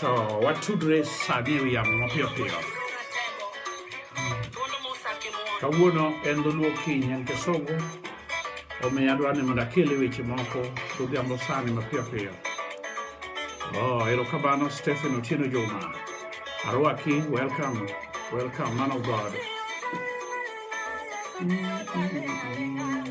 to watudre sani e wi yamo mapiyo piyo kawuono en dholuo kiny en kisungu omiyo adwa ni mondo akele weche moko godhiambo sani mapiyo piyo oh, erokamano stephen otieno juma arwaki welcome welcome man of god mm -hmm.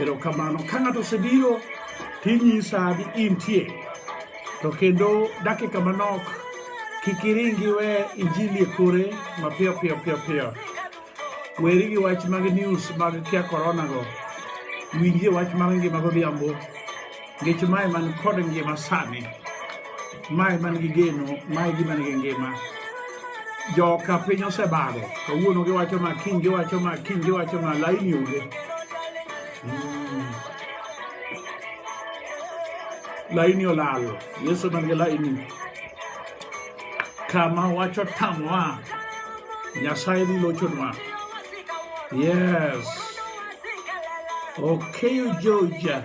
Erokamano. Ka ng'ato osebiro tinyisa ni intie to kendo dakika manok kik iringi we injili e kore mapiyo piyo piyo piyo. Weri gi wach mag news mag kia corona go. Winjie wach mar ngima godhiambo. Nikech mae man kod ngima sani, mae man gi geno, mae gima nigi ngima. Joka piny osebago, kawuono giwacho ma, kiny giwacho ma, kiny giwacho ma, laini onge. Mm. Laini olal, Yesu man gi laini. Kama wacho tamwa, Nyasaye dhi lochonwa. Yes. Okay, Georgia.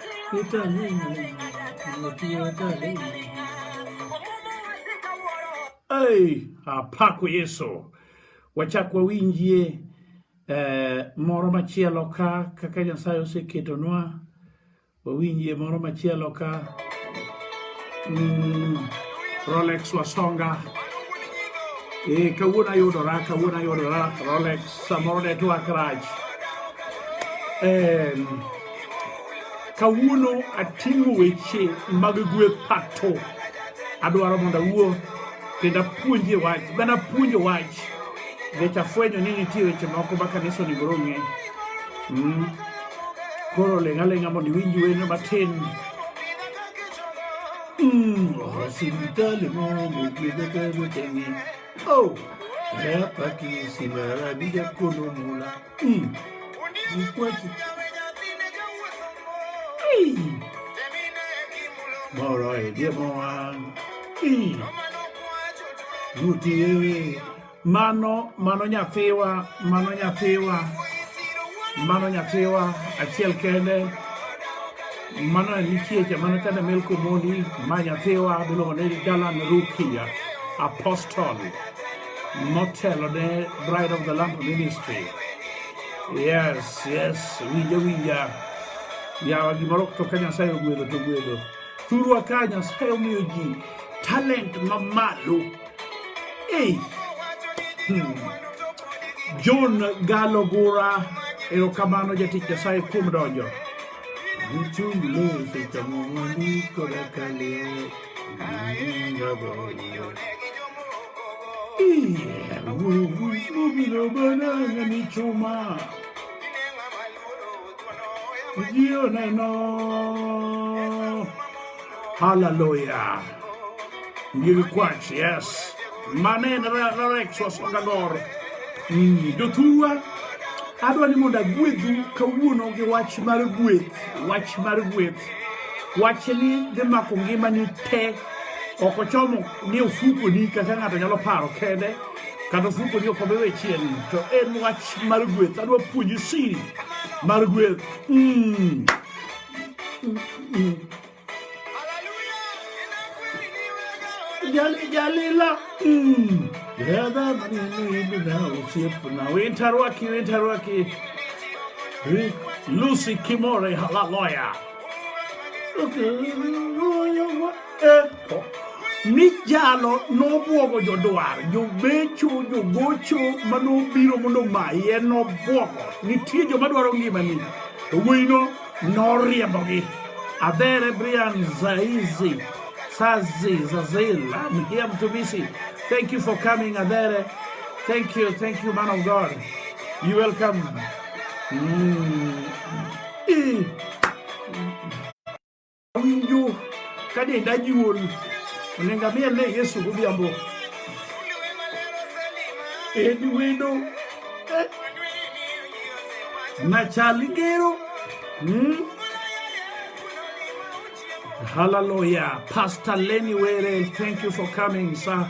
Hey, apako Yesu wachak wawinjie eh, moro machielo ka kaka Nyasaye oseketonwa wawinjie moro machielo ka mm, Rolex Wasonga e eh, kawuono ayudora kawuono ayudora Rolex samoro netwak rach eh, kawuono ating'o weche mag gweth pato adwaro mondo awuo kendo apuonjie wach bana puonjo wach nikech afwenyo ni nitie weche moko ma kanisa onego rong'e mm. koro ling' aling'a mondo iwinj weno matin mm. sipitali momogbedekemoteng'e o oh, rapaki simarabija kono mula Mm. Mkweche. Hey. Moro edie mwan. Hey. Ruti ewe. Mano, mano nyathiwa, mano nyathiwa. Mano nyathiwa, achiel kende. Mano en nikiecha, mano kende melko moni, ma nyathiwa, biluongo ni Dalan Rukia, apostol. motelo ne Bride of the Lamp Ministry. Yes, yes, winja winja. Yawa gimoro to ka Nyasaye ogwedho to gwedho. Thurwa ka Nyasaye omiyo ji talent mamalo. Hey. Hmm. John Galogura erokamano jatich Nyasaye kuom donjo. Uchung' loso chamo mwandu koda ka leo. Ayinga boyo. Hallelujah. Ngiri kwachi, yes. Manen rexo songagor. Mm, Jotuwa, adwa ni mondo agwedhu kawuono gi wach mar gweth, wach mar gweth. Wachni dhi mako ngimani te. ok ochomo ni ofukoni kaka ng'ato nyalo paro kende kata ofukoni ok obewe chien to en wach mar gweth adwa puonji siri mar gweth mm. mm, mm. jali jalila mm. yadha manenibina osiepna wintarwaki wintarwaki lucy kimore halaloya Mijalo nobwogo jodwar, jobecho, jogocho ma nobiro mondo omaye nobwogo. Nitie joma dwaro ngimani, to wuoyino noriembogi. Adhere Brian Zaizi, Sazi, Zazil, I'm here to visit. Thank you for coming, Adhere. Thank you, thank you, man of God. You welcome. Mm. Ee. Awinjo ka denda juol. Onego amiel ne Yesu godhiambo. En wendo. Eh. Machal ngero. Hmm. Hallelujah. Pastor Lenny Were, thank you for coming, sir.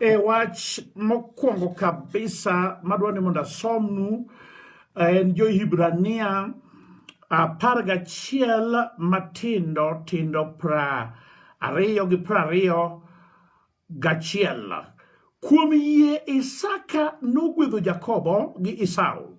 E wach mokwongo kabisa madwa ni mondo asomnu eh, en jo-Hibrania apar gachiel matindo tindo pra ariyo gi pra ariyo gachiel. Kuom yie Isaka nogwedho Jakobo gi Esau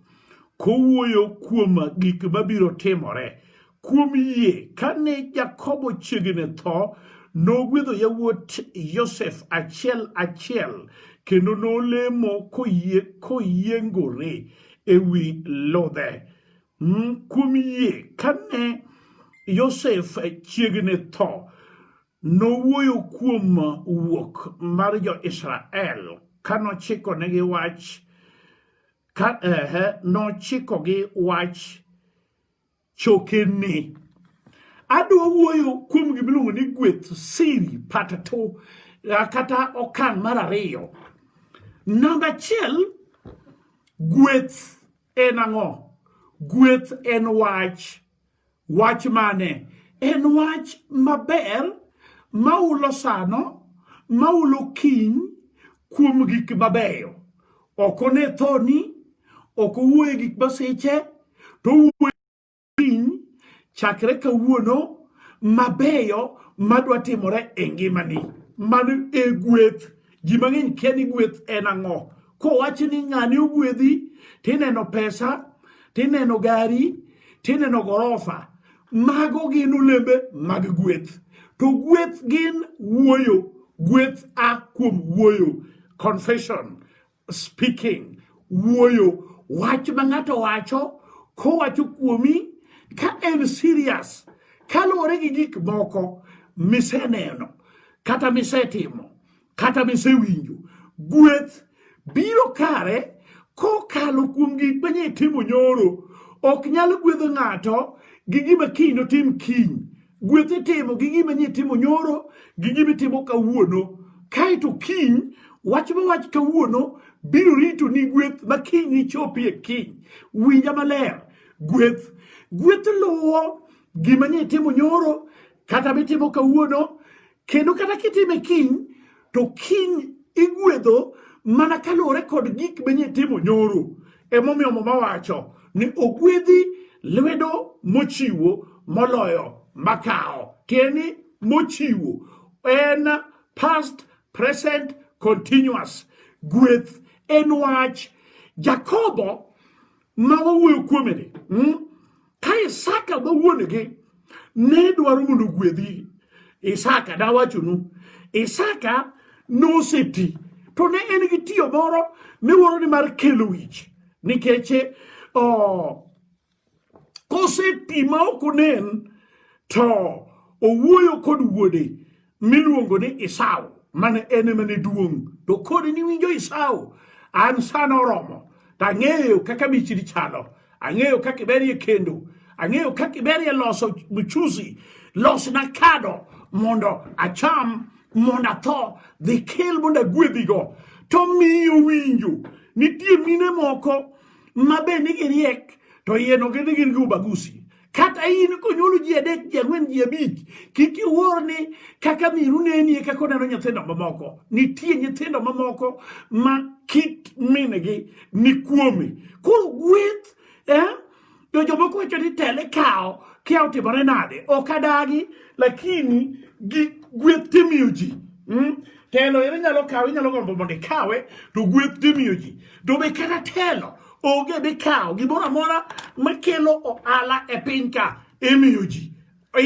kowuoyo kuom gik mabiro timore Kuom yie, kane Jakobo chiegni tho, nogwedho yawuot Yosef achiel achiel kendo nolemo koyie koyiengore e wi ludhe. Mm, kuom yie, kane Yosef chiegni tho, nowuoyo kuom wuok mar jo-Israel ka nochikonegi wach ka ehe nochikogi wach chokene. Adwa wuoyo kuom gima iluongo ni gweth siri pata to kata okang' mar ariyo. Namba achiel, gweth en ang'o? Gweth en wach. Wach mane? En wach maber ma ulo sano, ma ulo kiny kuom gik mabeyo. ok one thoni ok owuoye gik masiche to owuoye piny chakre kawuono mabeyo madwa timore e ngimani mano e gweth ji mang'eny kia ni gweth en ang'o kowachi ni ng'ani ogwedhi tineno pesa tineno gari tineno gorofa mago gin olembe mag gweth to gweth gin wuoyo gweth a kuom wuoyo confession speaking wuoyo wach ma ng'ato wacho kowacho kuomi ka en serious kaluwore gi gik moko miseneno kata misetimo kata misewinjo gweth biro kare kokalo kuom gik manye timo nyoro ok nyal gwedho ng'ato gi gima kiny notim kiny gweth itimo gi gima nye timo nyoro gi gima itimo kawuono kaeto kiny wach ma wach kawuono biro rito ni gweth ma kiny nichopie kiny winja maler gweth gweth luwo gima nye timo nyoro kata mitimo kawuono Kendo kata kitime kiny, to kiny igwedho mana kaluwore kod gik manye timo nyoro. Emomiyo Muma wacho ni ogwedhi lwedo mochiwo moloyo makawo. Tieni mochiwo en past, present, continuous. Gweth en wach. Jakobo ma wawuoyo kuomeni hmm? ka isaka ma wuonegi ne dwaro mondo ogwedhi isaka dawachonu isaka noseti to ne en gi tiyo moro miwuoro ni mar kelo wich nikech koseti ma ok onen to owuoyo kod wuode miluongo ni Isau mane en emane duong' to kod niwinjo Isau an sana oromo to ang'eyo kaka michiri chalo ang'eyo kaka iberie kendo ang'eyo kaka iberie loso mchuzi losna kado mondo acham mondo atho dhi kel mondo agwedhigo to miyo winjo nitie mine moko ma be nigi riek to yeno gin gin gi ubagusi kata in konyuolo ji adek ji ang'wen ji abich kik iwuor ni kaka miru nenie kaka oneno nyithindo mamoko nitie nyithindo mamoko ma kit mingi ni kuome koro gweth eh? to jomoko wacho ni tele kawo kia otimore nade ok adagi lakini gi gweth timiyo ji mm? telo ere nyalo kawe inyalo gombo mondo ikawe to gweth timiyo ji to be kata telo onge mikawo gimoro amora makelo ohala e piny ka imiyo ji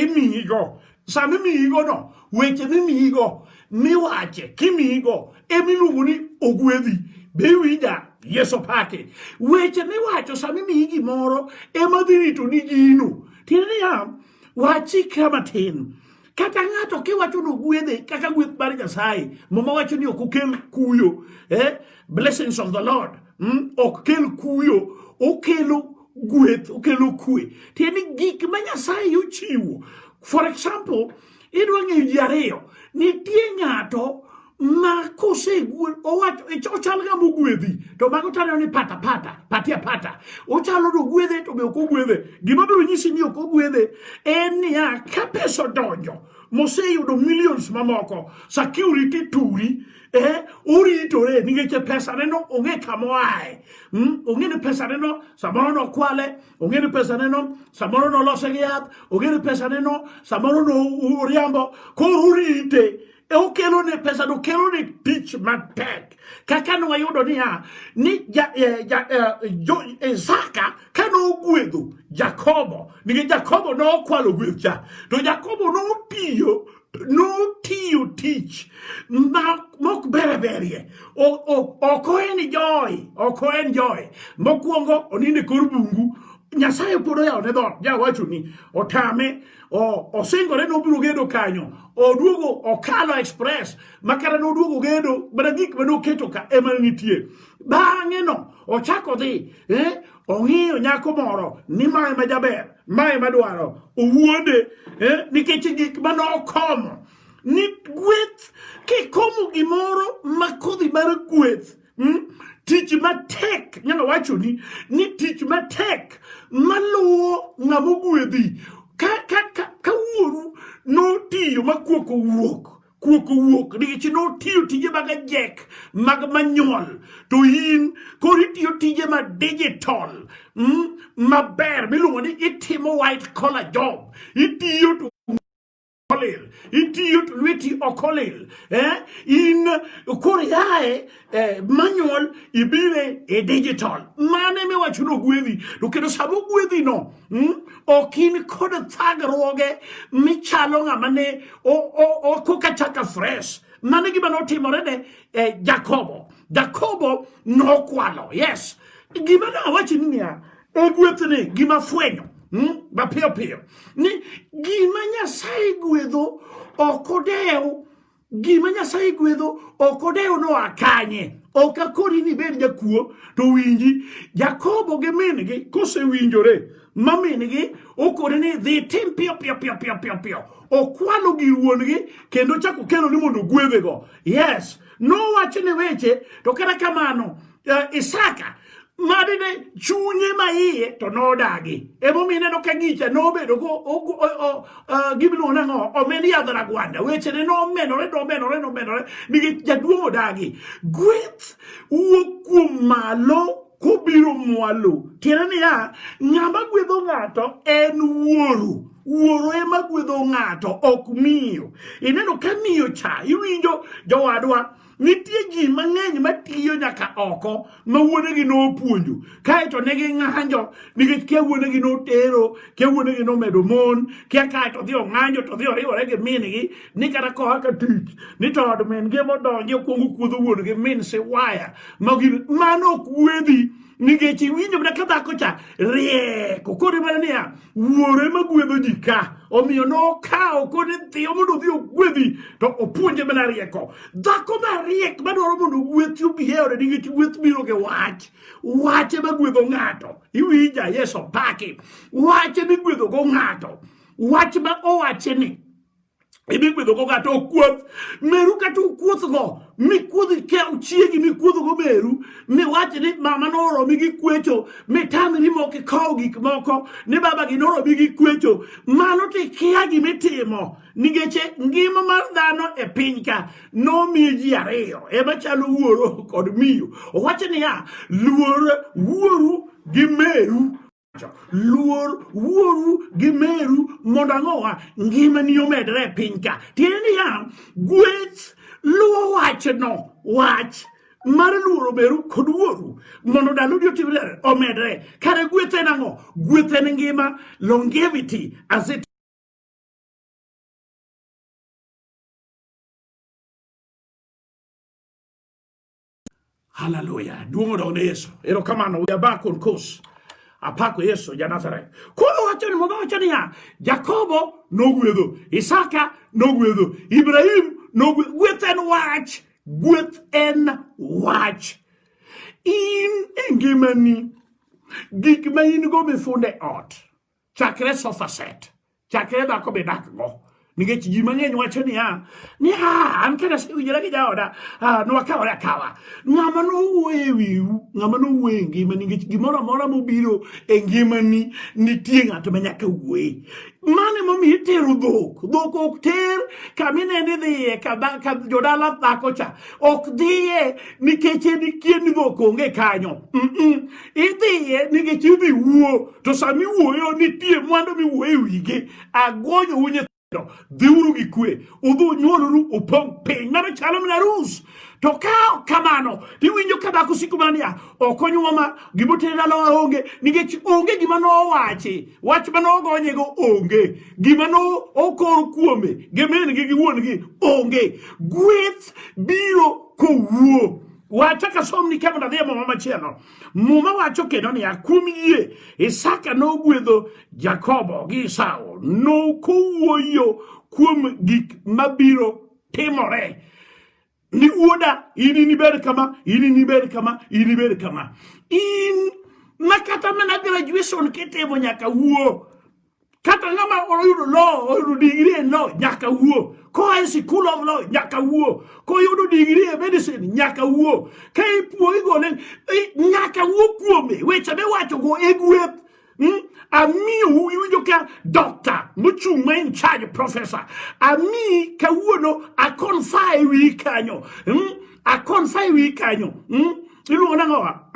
imiyigo sama imiyigono weche mimiyigo miwache kimiyigo emiluongo ni ogwedhi be iwinja yeso pake weche miwacho sama imiyi gimoro ema dhi rito ni gino tiende niya Wachikra matin. Kata ng'ato kiwacho ni ogwedhe kaka gweth mar Nyasaye, muma wacho ni ok okel kuyo. Eh? Blessings of the Lord. Mm? Ok kel kuyo, okelo gweth, okelo kwe. Tiende gik ma Nyasaye ochiwo. For example, idwa ng'eyo ji ariyo. Nitie ng'ato ma kosegwel owacho ochal ng'ama ogwedhi to mago taneno ni pata pata patia pata ochalo no gwedhe to be ok ogwedhe gima biro nyisi ni ok ogwedhe en niya ka pesa odonjo moseyudo millions mamoko security turi eh, oritore nikech e pesaneno ong'e kama oaye mm? ong'e ni pesaneno samoro nokwale ong'e ni pesaneno samoro nolose gi yath ong'e ni pesaneno samoro noriambo koro orite e okelo ne pesa no kelo ne tich matek kaka ne wayudo niya ni ja, eh, ja, eh, jo, Isaka ka ne ogwedho Jakobo nikech Jakobo ne okwalo gweth cha to Jakobo ne otiyo notiyo tich mok bere berie ok oen joy ok oen joy mokwongo oninde kor bungu nyasaye pod oyawone dhot jawacho ni otame osingore ni obiro gedo kanyo oduogo okalo express makara ne oduogo gedo mana gik mane oketo ka ema nitie bang'e no ochako dhi eh, ong'iyo nyako moro ni mae ma jaber mae madwaro owuonde eh, nikech gik mane okomo ni gweth kikomo gimoro ma kodhi mar gweth mm? tich matek nyalo wachoni ni tich matek maluwo ng'ama ogwedhi ka, ka, ka, ka wuoru notiyo ma kuok owuok kuok owuok nikech notiyo tije mag ajek mag manyuol to in koro itiyo tije ma digital mm, maber miluongo ni itimo white collar job itiyo to olil itiyo to lweti ok olil eh? in koro yaye eh, manual ibire e digital mane miwacho ni ogwedhi to kendo sama ogwedhi no mm, ok in kod thagruoge michalo ng'ama ne koka chaka fresh mane gima notimore ne eh, jakobo jakobo nokwalo yes gima ne awachi ni niya Ogwethni gima fwenyo hmm? mapiyo piyo ni gima Nyasaye gwedho ok odew gima Nyasaye gwedho ok odew noa kanye ok akori ni bed jakuo to winji Jakobo gi min-gi kosewinjore ma min-gi okore ni dhi tim piyo piyo piyo piyo piyo piyo okwalo gir wuon-gi kendo chako kelo ni mondo ogwedhego yes nowachone weche to kata kamano uh, Isaka madine chunye ma iye to nodagi emomiyo ineno ka gicha nobedo eh, gimiluongo nang'o omed yadh ragwanda wechene nomedore nomedore nomedore nikech jaduong' odagi gweth wuok kuom malo kobiro mwalo tiende niya ng'ama gwedho ng'ato en wuoru wuoro ema gwedho ng'ato ok miyo ineno ka miyo cha iwinjo jowadwa Nitie ji mang'eny matiyo nyaka oko ma wuonegi nopuonjo kae to ne ging'anjo nikech kia wuonegi notero, kia wuonegi nomedo mon, kia kae to dhi ong'anjo to dhi oriwore gi min-gi ni kata koa ka tich ni to od min-gi emodonjo okuongo kuodho wuon-gi min siwaya mano ok wuodhi nikech iwinjo mana ka dhako cha rieko koro mana niya wuoro ema gwedho ji ka omiyo nokawo kod nyithiyo mondo odhi ogwedhi to opuonje mana rieko dhako mariek madwaro mondo ogwethi obiheore nikech gweth biro gi wach wach ema gwedho ng'ato iwinja yeso paki wach ema igwedhogo ng'ato wach ma owache ni idhi gwedhogo kata okuoth meru kata ukuothgo mikuodh kaw chiegi mikuodhgo meru miwach ni mama noromi gi kwecho mitamri mok ikow gik moko ni babagi noromi gi kwecho mano to ikia gimitimo nikech ngima mar dhano e piny ka nomiye ji ariyo ema chalo wuoro kod miyo owacho niya luor wuoru gi meru luor wuoru gi meru mondo ang'owa ngimani omedre e piny ka tiende niya gweth luwo wachno wach mar luoro meru kod wuoru mondo ndalodi otimre omedre kare gweth en ang'o gweth en ngima longevity as it Haleluya. Duong' odog ne Yesu. Erokamano we are back on course. Apako Yesu ja Nazareth. Koro wacho ni mama wacho niya, Jakobo nogwedho, Isaka nogwedho, Ibrahim nogwedho. Gweth en wach, gweth en wach. In e ngimani gik ma in go mifunde ot. chakre sofa set chakre dhako be dakgo nikech ji mang'eny wacho niya niya an kane asewinjora gi jaoda ah, nwakawore akawa ng'ama nowuoyo e wiu ng'ama nowuoyo e ngima nikech gimoro amora mobiro e ngimani nitie ng'ato ma nyaka wuoye mane momiyo itero dhok dhok ok ter kama ineno idhiye ka jodala dhako cha ok dhiye nikech en ikien ni dhok onge kanyo idhiye nikech idhi wuo to sama iwuoyo nitie mwandu miwuoyo e wigi agonyo u nyithindo dhiuru gi kwe udhi unyuoluru upong' piny mano chalo mana rus to ka kamano tiwinjo ka dhako siko mana niya ok onyuwa ma gimotere dala onge nikech onge gima nowachi wach ma nogonyego onge gima no okor kuome gi min gi gi wuon gi onge gweth biro kowuo Wacha ka som ni kemo nadhi e muma machielo. Muma wacho kendo niya, kuom yie Isaka nogwedho Jakobo gi Esau, nokowuoyo kuom gik mabiro timore ni wuoda in inibed kama in inibed kama in inibed kama in ma kata mana graduation kitimo nyaka wuo kata ng'ama oyudo lo oyudo digri e lo nyaka wuo koa e sikul of lo nyaka wuo koyudo digri e medicine nyaka wuo ka ipuoi gone nyaka wuo kuome weche miwachogo e gweth hmm? amiu iwinjo ka doctor mochung' ma in charge professor ami kawuono akonfa e wi kanyo hmm? akonfa e wi kanyo hmm? iluongo nang'owa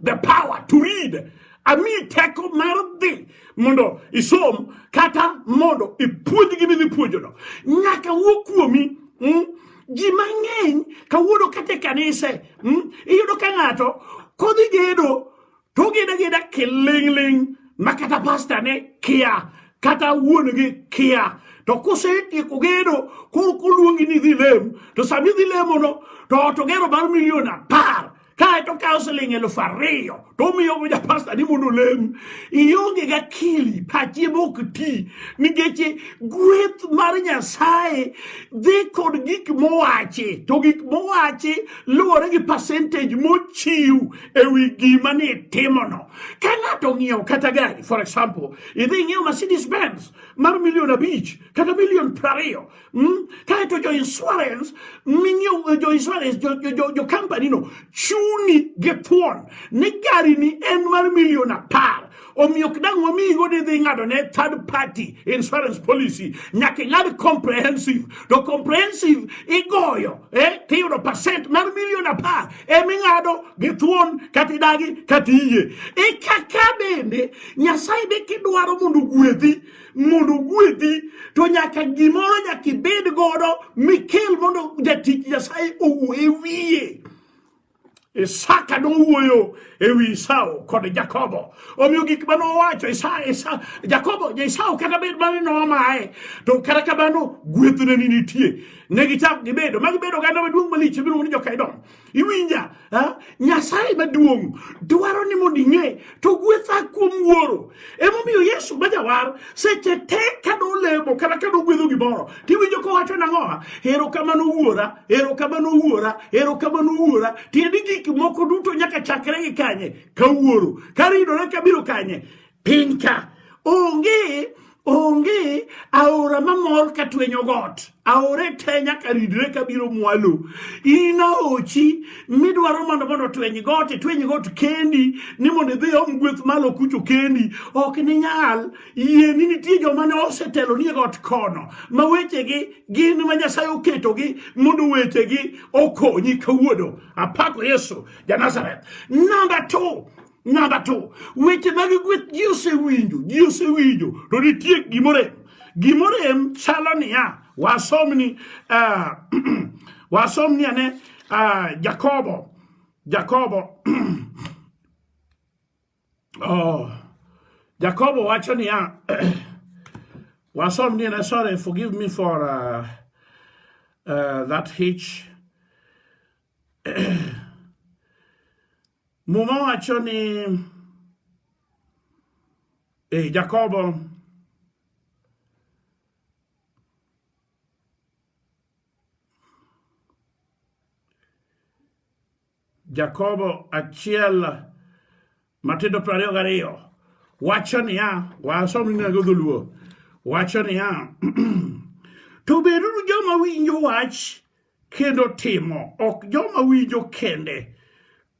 the power to read ami teko mar dhi mondo isom kata mondo ipuonj gi midhi puonjono nyaka wuo kuomi mm? ji mang'eny kawuono kata e kanise mm? iyudo ka ng'ato kodhi gedo to ogeda geda kiling'ling' ma kata pasta ne kia kata wuon gi kia to kusetieko gedo koro koluongi ni idhi lem to sami idhi lemono to ot ogero mar milion apar kae to kawo siling elufu ariyo to omiyo go japasta ni mondo olem ionge ga kili pachi mok ti nikech gweth mar nyasaye dhi kod gik mowachi to gik mowachi luwore gi percentage mochiw e wi gima ni timono ka ng'ato ng'iewo kata gari for example idhi ng'iewo mercedes benz mar milion abich kata milion prariyo Hmm? Kae to jo insurance minyiew eh, jo insurance jo, jo, jo, jo company no chuni gi thuon ni gari ni en mar milion apar omiyo ok dang' wamiyi go didhi ng'ado ne third party insurance policy nyaka ing'ad comprehensive to comprehensive igoyo eh, tiyudo percent mar milion apar eming'ado gi thuon kata idagi kata iyie ikaka bende nyasaye be kidwaro mondo ogwedhi mondo ogwedhi to nyaka gimoro nyaka ibed godo mikel mondo jatich nyasaye owuo e wiye Isaka nowuoyo e wi Esau kod Jakobo. Omiyo gik ma nowacho Jakobo, Esau kata bed mane nomaye, to kata kamano gwethne ni nitie. Ne gichako gibedo, ma gibedo oganda maduong' malich miluongo ni joka Edom. iwinja nyasaye maduong' dwaro ni mondo ing'e to gwetha kuom wuoro emomiyo yesu ma jawar seche te ka nolemo kata ka nogwedho gimoro tiwinjo kowacho nang'owa ero kamano wuora ero kamano wuora ero kamano wuora tieni gik moko duto nyaka chakre gi kanye ka wuoro karidore kabiro kanye piny ka onge onge aora mamor ka twenyo got aore te nyaka ridre ka biro mwalo in aochi midwaro mondo mondo tweny got itweny got kendi ni mondo idhi om gweth malo kucho kendi ok ninyal yie ni nitie joma ne osetelo ni e got kono ma wechegi gin ma nyasaye oketogi mondo wechegi okonyi kawuono apako yesu ja nazareth namba two Namba to weche mag gweth ji osewinjo, ji osewinjo, to nitie gimorem. Gimorem chalo niya, wasomni uh, wasomni ane uh, Jakobo Jakobo oh, Jakobo wacho niya wasomni ane sorry forgive me for uh, uh, that hitch Muma wacho ni e Jakobo Jakobo achiel matindo piero ariyo gariyo wacho niya wasom inago dholuo wacho niya to beduru joma winjo wach kendo timo ok joma winjo kende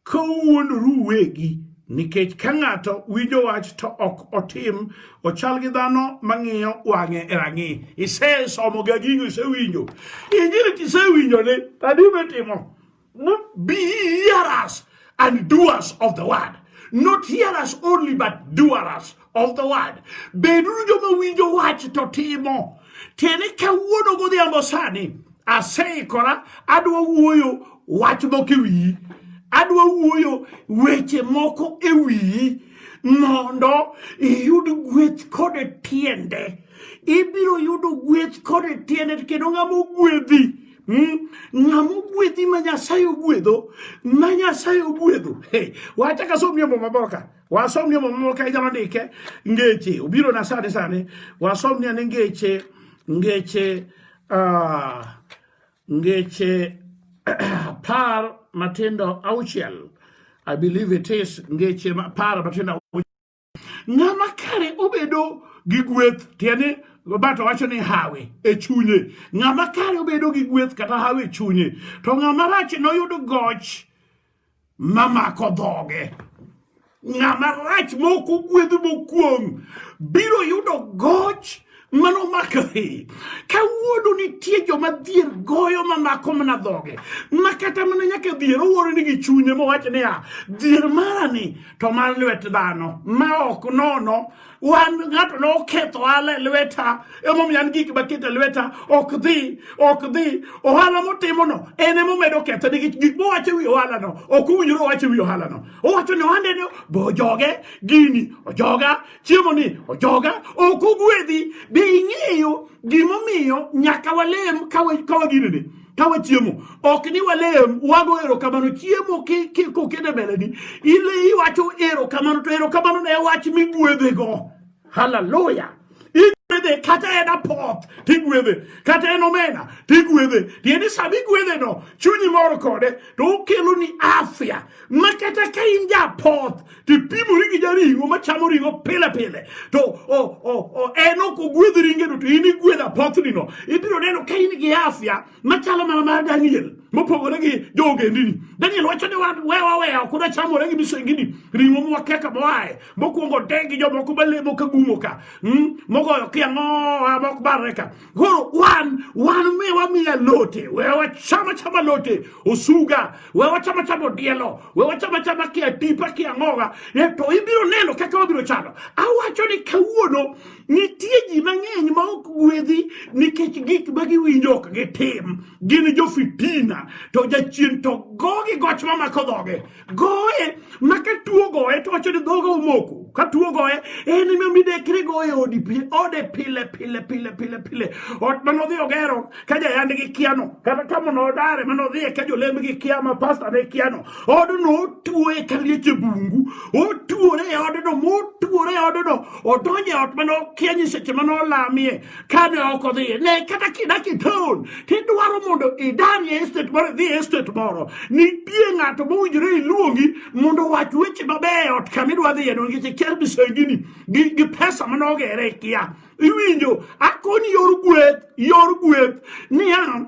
ka uwuondoru uwegi nikech ka ng'ato winjo wach to ok otim ochal gi dhano mang'iyo wang'e e rang'i isesomo ga gigo isewinjo injili tisewinjo ni tadi mitimo biyaras and doers of the word not hearers only but doers of the word beduru joma winjo wach to timo tiende kawuono godhiambo sani aseikora adwa wuoyo wach moko e wiyi adwa wuoyo weche moko e wiyi mondo iyud gweth kod tiende ibiro yudo gweth kod tiende kendo ng'ama ogwedhi Hmm? ng'ama ogwedhi ma nyasaye ogwedho ma nyasaye ogwedho hey, wachaka somie muma moro ka wasomnie muma moro ka inyalo ndike ngeche obiro na sani sani wasomnie ni ngeche ngeche uh, ngeche par matindo auchiel i believe it is ngeche par matindo Ng'ama kare obedo gi gweth tiende Roberto wacho ni hawi e chunye. Ng'ama kare obedo gi gweth kata hawi e chunye. To ng'ama rach noyud goch mamako dhoge. Ng'ama rach mok ogwedh mokuong' biro yudo goch mano makre ka wuodo nitie joma dhier goyo mamako mana dhoge ma kata mana nyaka dhier owuoro ni gi chunye mowach niya dhier marani to mar lwet dhano ma ok nono wan ng'ato ne oketho ohala e lweta emomiyo an gik maket e lweta ok dhi ok dhi ohala motimono en emomedo ketho nikech gik mowacho e wi ohalano ok owinjore owacho e wi ohalano owacho ni ohandeno bojoge gini ojoga chiemo ni ojoga ok ogwedhi be ing'eyo gimomiyo nyaka walem kawa ginene kawa chiemo ok ni walem wago erokamano chiemo kokete mbeleni ile iwacho erokamano to erokamano ne wach migwedhego haleluya igwedhe kata en apoth tigwedhe kata en omena tigwedhe tiende sama igwedheno chunyi mor kode to okeloni afya ma kata ka in ja apoth tipimori gi jaring'o machamo ring'o pile pile to en ok ogwedh ringeno to in igwedh apothnino ibiro neno ka in gi afya machalo mana mar daniel mopogore gi joogendini daniel wacho ni wewaweya ok uda chamore gi misengini ring'o mwakeka moaye mokwongo de gi jomoko malemo ka gumo ka hmm? mogoyo kiang'oa mok barre ka Koro wan wan mi wamiya lote, we wachama chama lote, osuga, we wachama chama odielo, we wachama chama kia tipa kia ng'oga, e to ibiro neno kaka wabiro chalo. Awacho ni kawuono nitie ji mang'eny ma ok gwedhi nikech gik ma giwinjo ok gitim. Gin jo fitina, to jachien to gogi goch mamako dhoge. goye ma ka tuo goye to wacho ni dhoga omoko ka tuo goye en ema midekre goye odi ode pile pile pile pile pile ot mane odhi ogero ka jayand gi kiano kata ka mono odare mane odhiye ka jolemb gi kia ma pasta ne kiano odno otuoe ka liech e bungu otuore e odno motuore e odno odonje ot mane okia nyiseche mane olamie kane ok odhiye ne kata kidaki town tidwaro mondo idari e estate moro idhi e estate moro nitie ng'ato mowinjore iluongi mondo owach weche mabeyo e ot kama idwa dhiye no nikech ikia misengini gi, gi pesa mane ogere ikia iwinjo akoni yor gweth yor gweth niya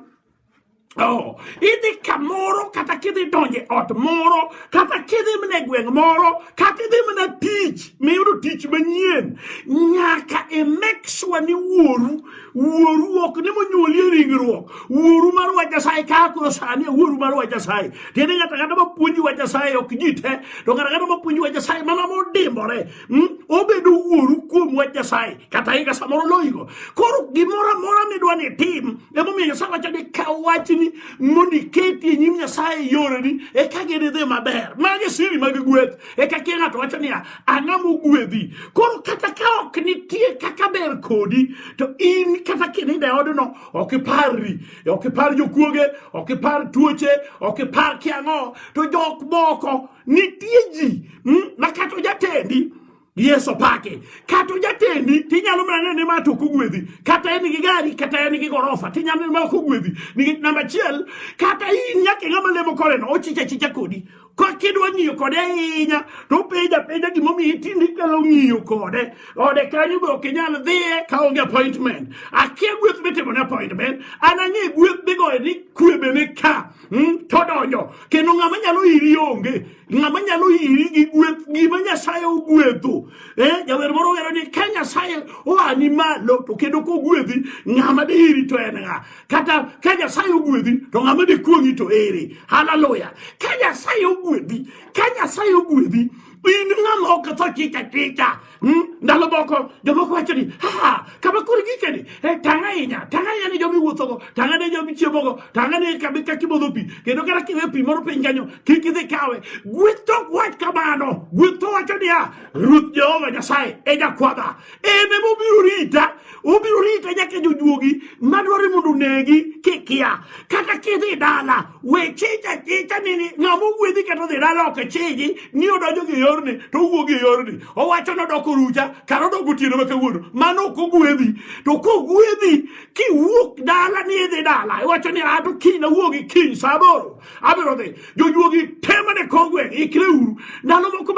Oh, idhi kamoro kata kidhi donje ot moro kata kidhi mne gweng' moro kata idhi mna tich miyudo tich manyien nyaka e make sure ni wuoru wuoru ok ni monyuoli e ringruok wuoru mar wach Nyasaye kaka koro sani e wuoru mar wach Nyasaye tiende ng'ato kata mapuonji wach Nyasaye ok ji te to ng'ato kata mapuonji wach Nyasaye mana modimbore hmm? obedo wuoru kuom wach Nyasaye kata higa samoro loyigo koro gimoro amora midwa ni tim Emomiyo Nyasaye wacho ni kaw wachni mondo iketi e nyim Nyasaye e yoreni eka gididhi maber. Magi siri mag gweth. Eka kia ng'ato wacho niya, ang'a mogwedhi. Koro kata ka ok nitie kaka ber kodi, to in kata kininde odno ok iparri. Ok ipar jokuoge, ok ipar tuoche, ok ipar kiang'o. To jok moko nitie ji hmm, ma kata ojatendi Yesu pake. Kata ojatendi tinyalo mana neno ni ma to kogwedhi. Kata en gi gari kata en gi gorofa tinyalo neno ma kogwedhi. Nikech namba achiel kata in nyaka ng'ama lemo koreno ochicha chicha kodi. Ka kidwa ng'iyo kode ahinya to openja penja gimomiyo itindi kalo ng'iyo kode. Ode kanyo be ok inyal dhiye ka onge appointment. Akia gweth mitimo ne appointment. An ang'e gweth migoyo ni kwebene ka. Hmm? Todonjo. Kendo ng'ama nyalo iri onge. ng'ama nyalo iri gi gweth gima nyasaye ogwedho eh, jawer moro wero ni ka nyasaye oani malo to kendo kogwedhi ng'ama de iri to en ng'a kata ka nyasaye ogwedhi to ng'ama de kuong'i to ere haleluya ka nyasaye ogwedhi ka nyasaye ogwedhi in ng'ama oketho chich achicha Hmm? ndalo moko jomoko wacho ni ha kama koro gike ni eh, tang' ahinya tang' ahinya ni jomi wuothogo tang' ane jomi chiemogo tang' ane kabe ka kimodho pi kendo kata kiwe pi moro piny kanyo kik idhi kawe gweth tok wach kamano gweth to wacho niya ruoth jehova nyasaye e jakwadha en emobiro rita Obiro rito nyaka jojuogi madwaro mondo onegi kikia. Kata kidhi dala, we chicha chicha nini ng'ama ogwedhi kata odhi dala ok chiji ni odonjo gi yorni to owuok gi yorni. Owacho ni odok orucha kata odok otieno ma kawuono. Mano ok ogwedhi. To kogwedhi kiwuok dala ni idhi dala iwacho ni ato kiny awuok gi kiny sa aboro abiro dhi. Jojuogi tema ne kogweng' ikre uru. Ndalo moko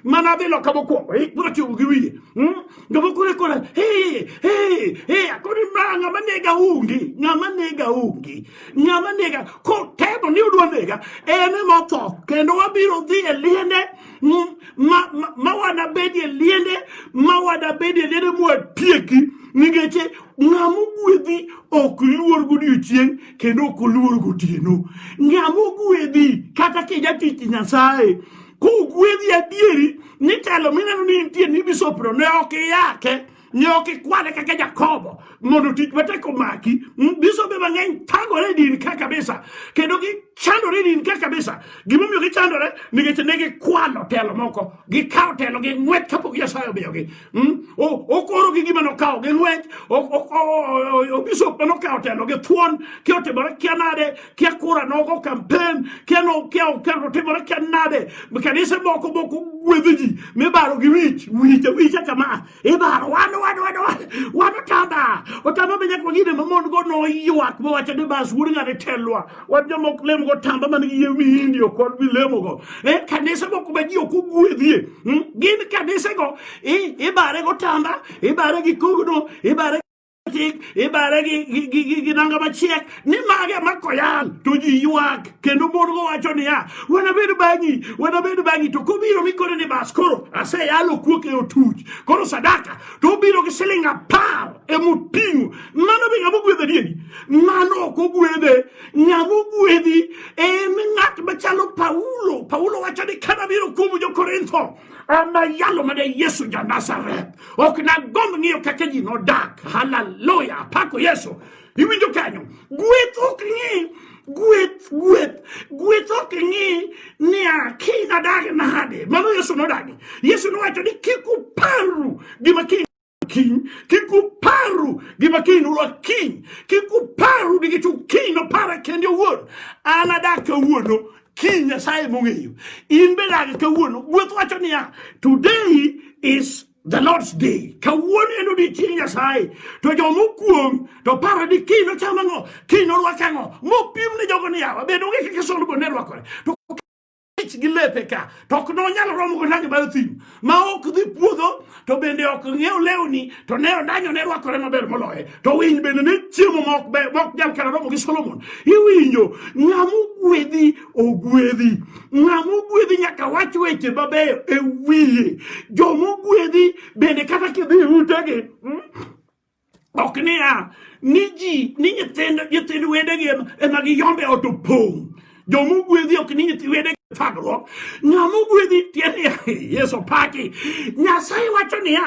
mana dhi loka mokwongo ikbiro chungo gi wiye. Hmm? Ndio maana kule kule hey hey hey akoni manga manega ungi ngama nega ungi ngama nega ko tebo ni udwa nega ene motho kendo wabiro dhi e liende ma ma wana bedi e liende ma wana bedi e liende mwa tieki nikech ng'ama ogwedhi ok luor godiechieng' kendo ok oluor gotieno ng'ama ogwedhi kata kijatich nyasaye kogwedhi adieri nitelo mineno ni nitie ni bisopno ne ok iyake ne ok ikwane kaka jakobo mondo tich matek omaki bisobe mang'eny thagore e din ka kabisa kendo gichandore e din ka kabisa gimomiyo gichandore nikech ne gikwalo telo moko gikawo telo gi ng'wet kapok nyasaye omiyogi Hmm? okoro gi gima nokawo gi lweny obisop ma nokawo telo gi thuon kia otimore kia nade kia kura nogo kampen kia otimore kia nade kanise moko moko gwedho ji mibaro gi wich wich wich kama ibaro wan wan wan wan otamba otamba be nyaka wang'ine mamon go noywak mowacho ni bas wuod ng'ane telwa wan jomok lemo go tamba man gi yie windio kod bilemo go e kanise go kuma ji ok ogwedhie hmm? gin kanise go ibare go tamba ibare gi kugno ibare tik ibare gi nanga machiek ni mage makoyal to ji ywak kendo mon go wacho niya wanabed bang'i wanabed bang'i to kobiro mikone ni bas koro aseyalo kuok e otuch koro sadaka to obiro gi siling apar emoting'o Mano be ng'ama ogwedh adieri? Mano ok ogwedhe. Ng'ama ogwedhi en ng'at machalo Paulo. Paulo wacho ni ka nabiro kuom jo-Korintho, anayalo mana Yesu ja-Nazareth. Ok nagomb ng'iyo kaka ji nodak. Haleluya! Apako Yesu. Iwinjo kanyo? Gweth ok ng'i gweth gweth gweth ok ng'i niya kiny nadagi nade mano yesu nodagi yesu nowacho ni kik uparru gima kiny kiny kik uparu gima kiny ulwa kiny kik uparu ni gichu kiny nopara kende owuon an adak kawuono kiny nyasaye mong'eyo in be dag kawuono gweth wacho niya today is the lord's day kawuono en odiechieng nyasaye to jomokuong to paro ni kiny nocham ang'o kiny norwak ang'o mopim ne jogo niyawa bedo onge kaka solomon ne rwakore to ich gi lepe ka to ok nonyal romo gi rangi mar thim ma ok dhi puodho to bende ok ng'iew lewni to ne ondanyo ne rwakore maber moloye to winy bende ne chiemo ma ok ber ma ok nyal kata romo gi solomon iwinjo ng'ama ogwedhi ogwedhi ng'ama ogwedhi nyaka wach weche mabeyo e wiye joma ogwedhi bende kata kidhi e utegi mm, ok niya ni ji ni nyithind nyithind wedegi ema giyombe ot opong' joma ogwedhi ok ni nyithi wedegi thagruok ng'ama ogwedhi tiende yesu paki nyasaye wacho niya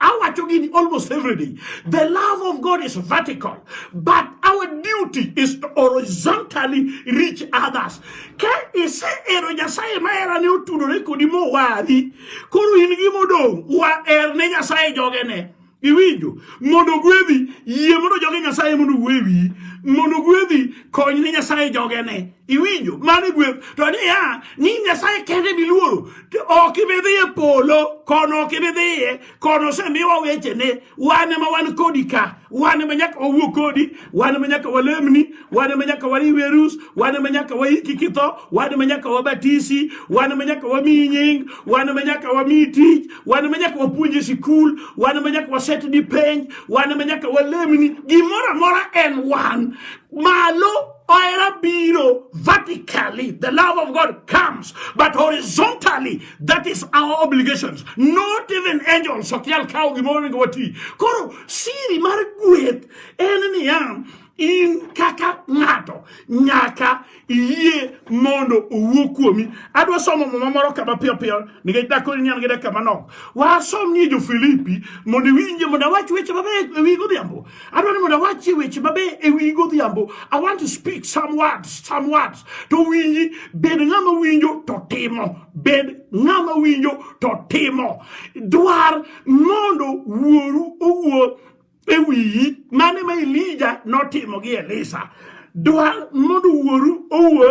awacho gini almost every day the love of god is vertical but our duty is to horizontally reach others ka isehero nyasaye maherane otudore kodi mowari koro in gi modong' waher ne nyasaye jogene iwinjo mondo ogwedhi yie mondo joge nyasaye mondo ogwe wiyi mondo ogwedhi kony ne nyasaye jogene Iwinjo? Mano e gweth. To niya, ni Nyasaye kende miluoro, ok ibi dhi e polo, kono ok ibi dhiye, kono osemiwa wechene, wan ema wan kodi ka, wan ema nyaka wawuo kodi, wan ema nyaka walemni, wan ema nyaka wariwe arus, wan ema nyaka waiki kitho, wan ema nyaka wabatisi, wan ema nyaka wamiyi nying, wan ema nyaka wamiyi tich, wan ema nyaka wapuonji e sikul, wan ema nyaka wasetni penj, wan ema nyaka walemni, gimoro amora en wan. Malo Ohera biro vertically, the love of God comes, but horizontally, that is our obligations. Not even angels. Sokial kao gimoro wati. Koro siri mar gweth en niya in kaka ng'ato nyaka iyie mondo owuo kuomi. Adwa somo muma moro kama piyo piyo nikech dakoro ni an gi dakika manok. Wasom ni jo Filipi mondo iwinje mondo awach weche mabeyo ewi godhiambo. adwa ni mondo awachie weche mabe e wi godhiambo i want to speak some words some words to winji bed ng'ama winjo to timo bed ng'ama winjo to timo dwar mondo wuoru owuo e wiyi mane ma elija notimo gi elisa dwa mondo wuoru owuo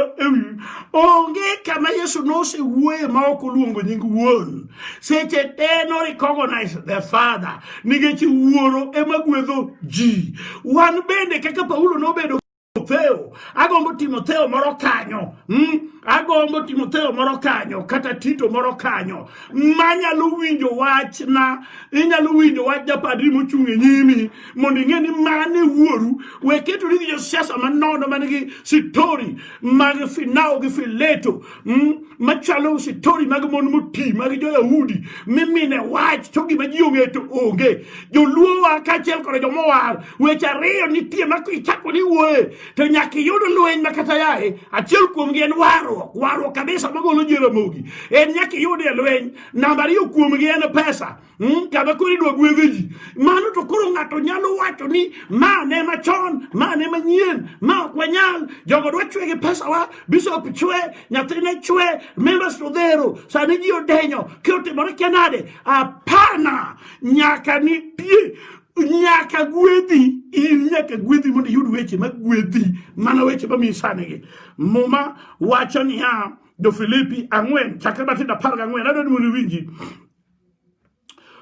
onge kama yesu nosewuoye ma ok oluongo nying wuon seche te no recognize the father nikech wuoro ema gwedho ji wan bende kaka paulo nobedo Timotheo, agombo Timotheo moro kanyo, mm? agombo Timotheo moro kanyo kata Tito moro kanyo manyalo winjo wachna, inyalo winjo wach japadri mochung' e nyimi mondo ing'e ni mane wuoru we ketori gi josiasa manono man gi sitori mag finawo gi fileto mm, machalo sitori mag mon moti mag joyahudi mimine wach to gima ji ong'e to onge joluowa kaachiel koda jomowar weche ariyo nitie ma ichako ni wuoye to nyaka iyud lweny ma kata yaye achiel kuomgi en warruok warruok kabisa magolo ji e ramogi en nyaka iyud e lweny namba ariyo kuomgi en pesa Hmm, kama koro idwa gwedhe ji mano to koro ng'ato nyalo wacho ni ma ne machon ma ne manyien ma ok wanyal jogo dwa chwe gi pesawa bishop chwe nyathine chwe members odhero sani ji odenyo ki otimore kia nade apana nyaka nitie nyaka gwedhi in nyaka gwedhi mondo iyud weche ma gwedhi mana weche mamiyi sanigi muma wacho niya jofilipi ang'wen chakre matindo apar gang'wen adwa ni mondo iwinji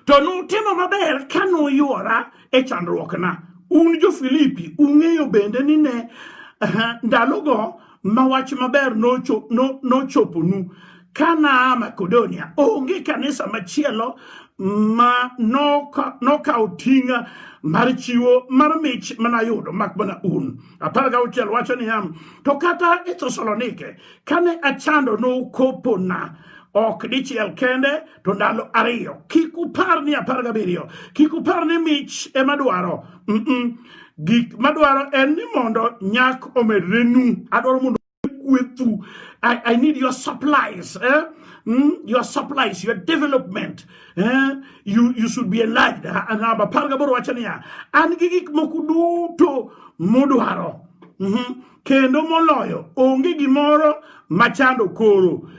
To nutimo maber ka nuywora e chandruokna. Un jo-Filipi ung'eyo bende ni ne ndalogo ma wach maber nochoponu ka naa Makedonia, onge kanisa machielo ma nokawo ting' mar chiwo mar mich manayudo mak mana un. Apar gauchiel wacho niya, to kata e Thesalonike kane achando nokopona ok dichiel kende to ndalo ariyo. Kik upar ni apar gabiriyo, kik upar ni mich ema dwaro. Mm -mm. Gik madwaro en ni mondo nyak omedrenu. Adwaro mondo kwethu. I, I need your supplies. Eh? Mm? Your supplies, your development. Eh? You, you should be enlarged. Namba apar gaboro wacho niya, an gi gik moko duto mudwaro. Mm -hmm. kendo moloyo onge gimoro machando koro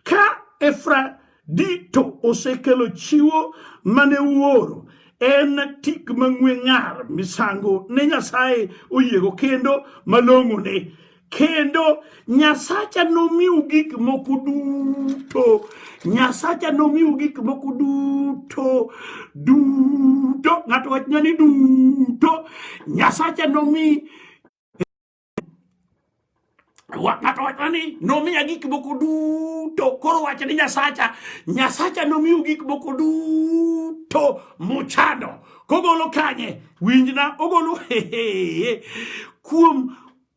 ka efradito osekelo chiwo mane uoro en tik mang'we ng'ar misango ne nyasaye oyiego kendo malong'one kendo nyasacha nomiu gik moko duto nyasacha nomiu gik moko duto duto ng'ato wachna ni duto nyasacha nomi ng'ato wacho ni nomiya gik moko duto koro wacho ni nyasacha nyasacha nomiu gik moko duto muchando kogolo kanye winjna ogolo hehe kuom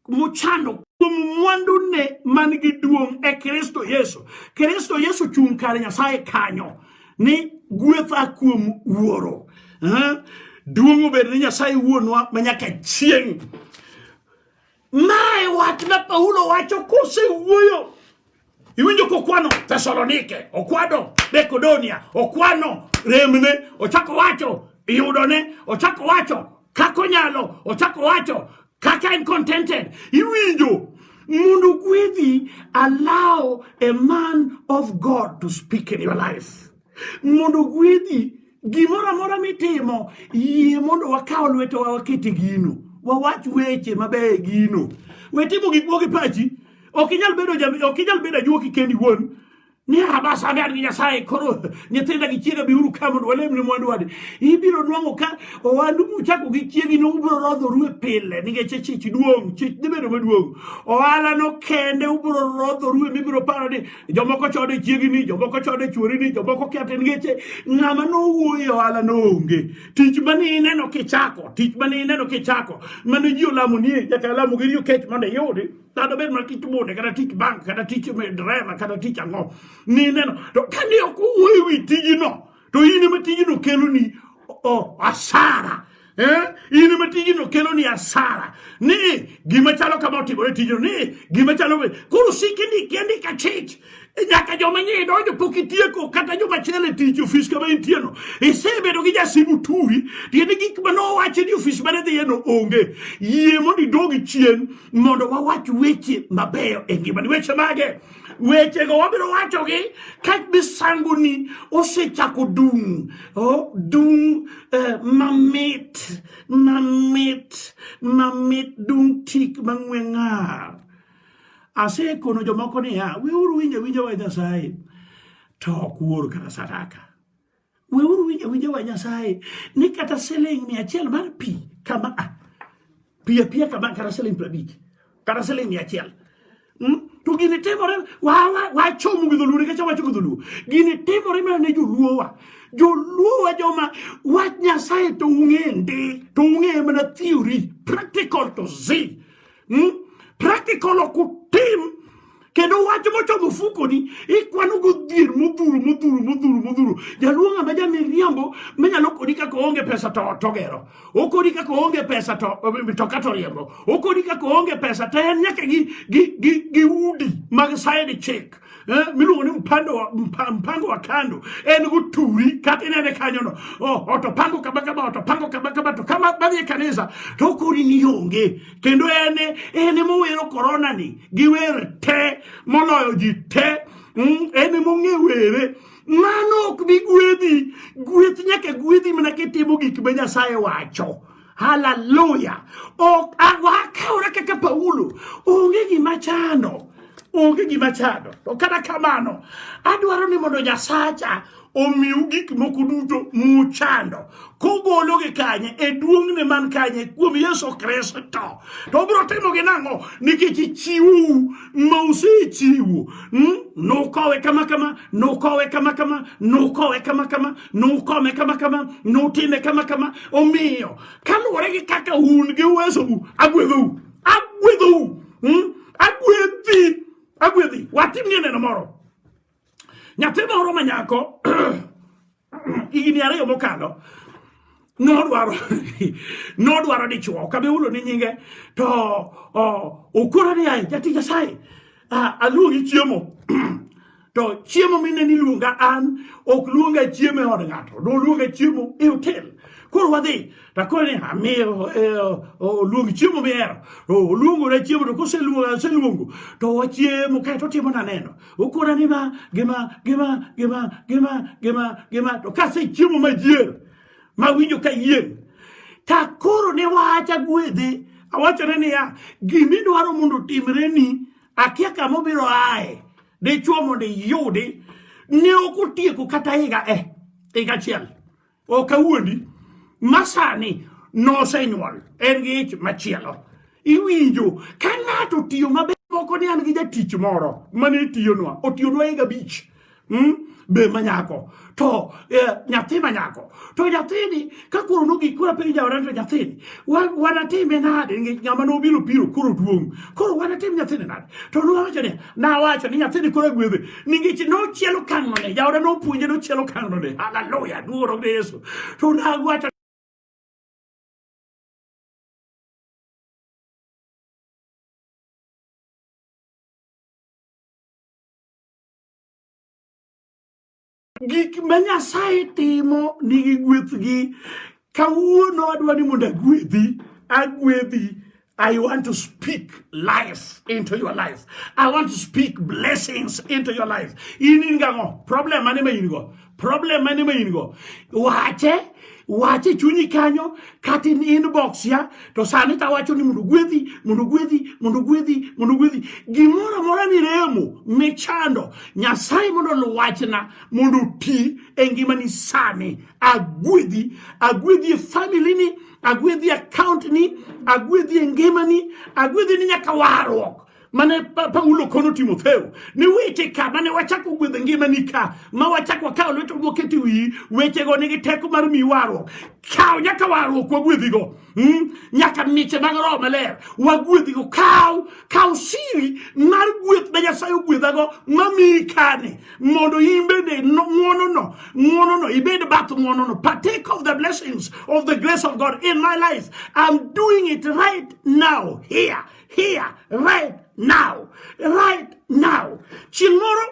muchando kuom mwandune man gi duong' e kristo yesu kristo yesu chung' kare nyasaye kanyo ni gwetha kuom wuoro eh? duong' obed ni nyasaye wuonwa ma nyaka chieng' mae wach ma paulo wacho kosewuoyo iwinjo kokwano thesalonike okwano makedonia okwano remne ochako wacho yudone ochako wacho kaka onyalo ochako wacho kaka en contented iwinjo mondo gwedhi allow a man of god to speak in your life mondo gwedhi gimoro amora mitimo yie mondo wakaw lwetowa wakete gino wawach weche mabeyo e gino wetimo gik moko gi pachi ok inyal bedo ok inyal bedo ajuoki kendi wuon ni abasa amead gi nyasaye koro nyithinda gi chiega biuru ka mondo walemne mwandu wadi ibiro nwang'o ka owandu muchako gi chiegi no ubiro rodhoru e pile nikech chich duong' chich dhi bedo maduong' ohala no kende ubiro rodhoru e mibiro paro ni jomoko chode chiegi ni jomoko chode chuori ni jomoko kete nikech ng'ama nowuoyo e ohala no onge tich mane ineno kichako tich mane ineno kichako mane ji olamo nie nyaka lamo gi riyo kech mondo iyudi kata obed mana tich bude kata tich bank kata tich dreva kata tich ang'o nineno to kane ok owuoyo ewi tijino to in ema tijino keloni asara Eh? in ema tijino keloni asara ni gima chalo kama otimore tijino ni gima chalo koro sik indiki andika chich E nyaka joma nyie idonjo pok itieko kata joma chele tich ofis kama intieno isebedo gi jasimu turi tiende gik ma nowache ni ofis mane dhiyeno onge yie mondo idogi chien mondo wawach weche mabeyo e ngimani weche mage wechego wabiro wachogi ka misangoni osechako dung oh, dung eh, mamit mamit mamit dung tik mang'we ng'ar Asekono jomoko niya, weuru winjo winjo wa Nyasaye, to ok wuoru kata sadaka. Weuru winjo winjo wa Nyasaye, ni kata siling mia achiel mar pi kama a, ah, pi apiya kama kata siling prabich, kata siling mia achiel. Hmm? To gini timore, wachomo gi dholuo, nikech awacho gi dholuo. Gini timore mana ne joluo wa. Joluo wa joma wach Nyasaye to ung'e ndi, to ung'e mana theory, practical to see. hmm? practical ok utim kendo wach mochomo fukoni ikwano godhier modhuro modhuro modhuro modhuro jaluo ng'ama jamiriambo manyalo kodi kaka oonge pesa to togero okodi kaka oonge pesa to mitoka to riembo okodi kaka oonge pesa to en nyaka gi, gi, gi, gi udi mag side chick Eh, miluongo ni mpando wa, mpa, mpango wa kando en guturi kata inene kanyono oh, otopango kama kama otopango kama kama to kama badhi e kanisa to kori ni onge kendo en en mowero korona ni giwer te moloyo ji te mm, en mong'e were mano ok bi gwedhi gweth nyaka gwedhi mana kitimo gik ma nyasaye wacho Haleluya! Akaora kaka Paulo, onge gima chando, onge gima chando. To kata kamano, adwaro ni mondo Nyasacha omiu gik moko duto muchando kogologi kanye e duong'ne man kanye kuom Yesu Kristo to obiro timogi nang'o nikech ichiwou ma usechiwo hmm? nukowe kama kama nukowe kama kama nukowe kama kama nukome kama kama nutime kama kama omiyo kaluwore gi kaka un gi uwesou agwedhou agwedhou hmm? agwedhi agwedhi watimnie neno moro nyathi moro ma nyako higni ariyo mokalo nodwaro nodwaro dichuo ok abi hulo ni nyinge to okoro ni ae jatich nyasaye aluongi chiemo to chiemo mine ni luonga an ok luonga chiemo e od ng'ato do luonga chiemo e hotel koro wadhi takoro ni amiyo e, oluong chiemo mihero oluongona chiemo to koseluongo to wachiemo kae to timona neno okona ni ma gima gima gima gima gima gima to kase chiemo majier mawinjo ka yieng' takoro ne wacha gwedhe awachone niya gimidwaro mondo otimreni akia kamobiro aye Dichuo mondo iyudi ne ok otieko kata higa e higa achiel ok awuondi masani nosenyuol en gi ich machielo iwinjo ka ng'ato tiyo maber moko ni an gi jatich moro mane tiyonwa otiyonwa higa abich hmm? be manyako to eh, nyathi ma nyako to nyathini ka koro nogi kura piny jaoran to nyathini wanatime nade nikech ng'ama nobiro biro koro duong' koro wanatim nyathini nade to nowacho ni nawacho ni nyathini koro gwedhe nikech nochielo kang'one jaoda nopuonje nochielo kang'one haleluya duoro ne yesu to nawacho gik ma nyasaye timo nigi gwethgi kawuono adwa ni mondo agwedhi agwedhi I want to speak life into your life. I want to speak blessings into your life. In in gango problem mane ma in go. Problem mane ma in go. Wache wache chunyi kanyo kata in inbox ya to sani ta wacho ni mondo gwedhi mondo gwedhi mondo gwedhi mondo gwedhi gimoro amora ni remo michando nyasaye mondo luwachna mondo ti e ngimani sani agwedhi agwedhi e family ni agwedhi account ni agwedhi e ngimani agwedhi ni nyaka warruok mane Paulo kono Timotheo ni weche ka mane wachako gwedho ngimani ka ma wachako wakawo lweto moketo wiyi wechego nigi teko mar miyi warruok kaw nyaka warruok wagwedhigo hmm? nyaka miche mag roho maler wagwedhigo kaw kaw siri mar gweth ma nyasaye ogwedhago mamiyi kane mondo in bende ng'wonono ng'wonono ibed bath ng'wonono partake of the blessings of the grace of god in my life i'm doing it right now here here right now right now chieng' moro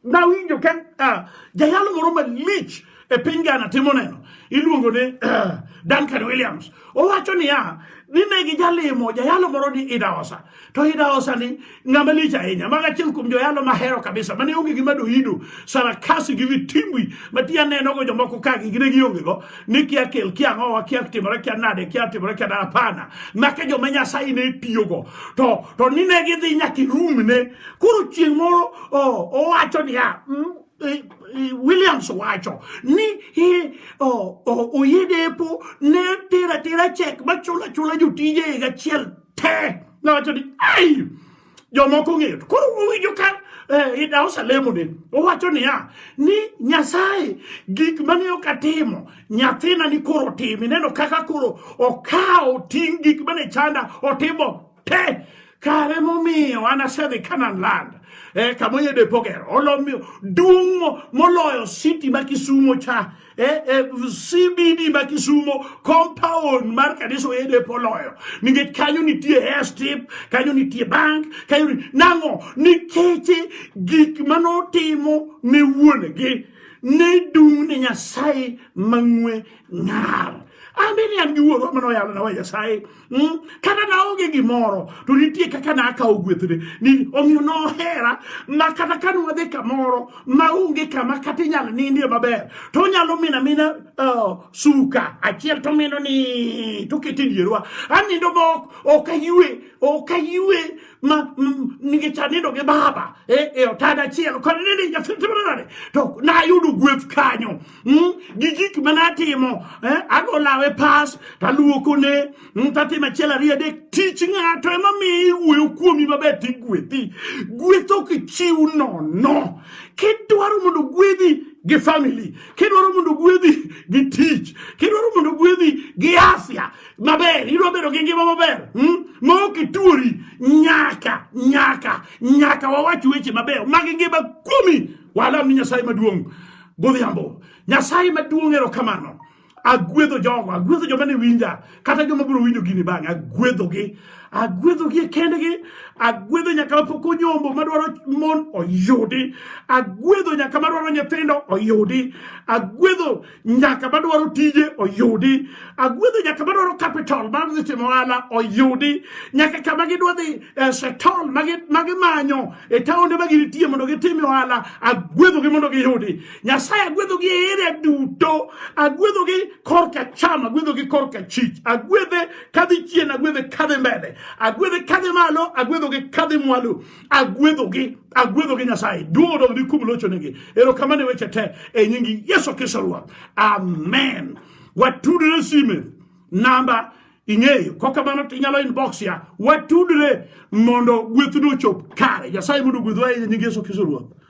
nawinjo ka uh, jayalo moro malich e piny Ghana timo neno iluongo ni uh, Duncan Williams owacho niya ni ne gijalimo jayalo moro ni Idaosa to Idaosa ni ng'ama lich ahinya mago achiel kuom joyalo mahero kabisa mane onge gima doyido sarakasi gi vitimbwi matiya nenogo jomoko ka gigine giongego ni kia kel kia ngowa kia timore kia nade kia timore kia nade hapana make joma nyasaye ne tiyogo to to ni ne gidhi nyaka irumne koro chieng' moro owacho niya mm, e, e, Williams wacho ni e, oyedepo ne tera tera chek machula chula jotije higa achiel te nowacho ni ai jomoko ong'eyo to koro owinjo ka eh, idausa lemone owacho niya ni nyasaye gik mane ok atimo nyathina ni koro otimi neno kaka koro okawo ting' gik mane chanda otimo te kare momiyo an asedhi kanan land eh, kamoyede pogero olomiyo duong' moloyo siti ma kisumo cha eh, eh, CBD ma Kisumo compound mar kanisa oyede poloyo nikech kanyo nitie hair strip kanyo nitie bank kanyo nang'o nikech gik manotimo ne wuonegi ne dung' ne Nyasaye mang'we ng'ar ambe ni an gi wuoro manoyalona wa Nyasaye Mm, kata naonge gimoro to nitie kaka nakawo gwethne ni omiyo nohera ma kata ka nwadhi kamoro maonge kama kata inyalo nindie maber to onyalo mina mina uh, suka achiel to mino ni tokete dierwa anindo ma ok aywe ok aywe ma mm, nikech anindo gi baba e, e otada achiel kod nini nyathi timore nade to nayudo gweth kanyo mm, gi gik ma natimo eh, ago lawe pas taluokone mm, tatimo achiel ariyo adek tich ng'ato ema miyo iwuoyo kuomi maber tigwethi gweth ok chiw nono kidwaro mondo gwedhi gi family kidwaro mondo gwedhi gi tich kidwaro mondo gwedhi gi afya maber idwa bedo gi ngima maber hmm? ma ok ituori nyaka nyaka nyaka wawach weche mabeyo mag ngima kuomi walam ni nyasaye maduong' godhiambo. Nyasaye maduong' erokamano. Agwedho jogo, agwedho joma ne winja, kata joma biro winjo gini bang', agwedhogi. Agwedhogi e kendgi, agwedho nyaka mapok onyombo madwaro mon oyudi, agwedho nyaka madwaro nyithindo oyudi, agwedho nyaka madwaro tije oyudi, agwedho nyaka madwaro capital mar dhi timo ohala oyudi, nyaka kama gidwa dhi Esheton ma gimanyo e taonde ma ginitie mondo gitim ohala agwedhogi mondo giyudi nyasaye agwedhogi e area duto agwedhogi korka cham agwedhogi korka chich agwedhe kadhi chien agwedhe kadhi mbele agwedhe kadhi malo agwedhogi kadhi mwalo agwedhogi agwedhogi nyasaye duong' odog ni kum lochonegi erokamano e weche te e nyingi yesu kristo ruoth amen watudre sime namba ing'eyo kok kamano to inyalo inbox ya watudre mondo gwethno ochop kare nyasaye mondo gwedhwa e nying yesu kristo ruoth